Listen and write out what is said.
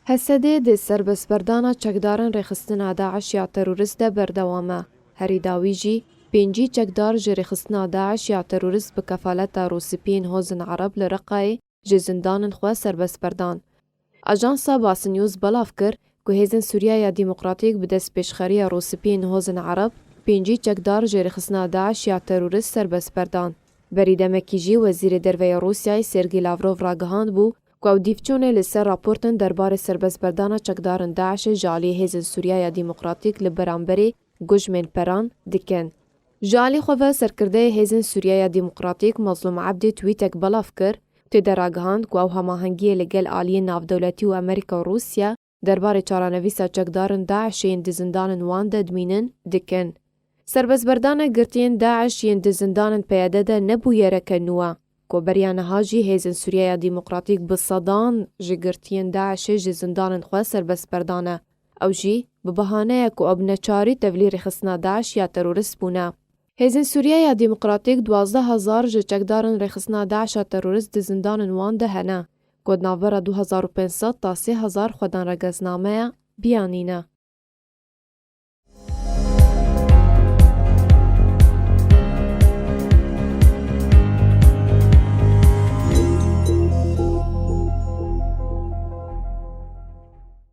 Hesedê di serbestberdana çekdaran rêxistina DAIŞ ya terorist de berdewam e. Herî dawî jî pêncî çekdar ji rêxistina DAIŞ ya terorist bi kefaleta Rûspiyên Hozên Ereb li Reqayê ji zindanin xwe serbest berdan. Ajansa Bas News belav kir ku Hêzên Sûriya ya Demokratîk bi destpêşxeriya Rûspiyên Hozên Ereb pêncî çekdar ji rêxistina DAIŞ ya terorist serbest berdan. Berî demekî jî Wezîrê Derve ya Rûsyayê Sergî Lavrov ragihandbû Ku ew dîvçûnê li ser raportên derbarê serbestberdana çekdarên DAIŞ'ê ji aliyê hêzên Sûriya ya Dîmokratîk li beramberî gujmên peran dikin. Ji alî xwe ve serkirdeyê hêzên Sûriya ya Dîmokratîk Mazlûm Ebdî twîtek belav kir û tê de ragihand ku ew hamahengiyê li gel aliyên navdewletî û Amerîka û Rûsya, Derbarê çaranivîsa çekdarên DAIŞ yên di zindanên wan de dimînin, dikin. Serbestberdana girtiyên DAIŞ yên di zindanên PYD de ne bûyereke nû e. Ku beriya niha jî hêzên Sûriyeya Demokratîk bi sedan ji girtiyên DAIŞê ji zindanên xwe serbestberdane. Ew jî, bi bahaneya ku ew bi neçarî tevlî rêxistina DAIŞ ya terorist bûne. Hêzên Sûriye ya Demokratîk duwazdeh hezar ji çekdarên rêxistina DAIŞ'a terorîst di zindanên wan de hene ku di navbera du hezar û pênc sed ta sê hezar xwedên regesnameya biyanî ne.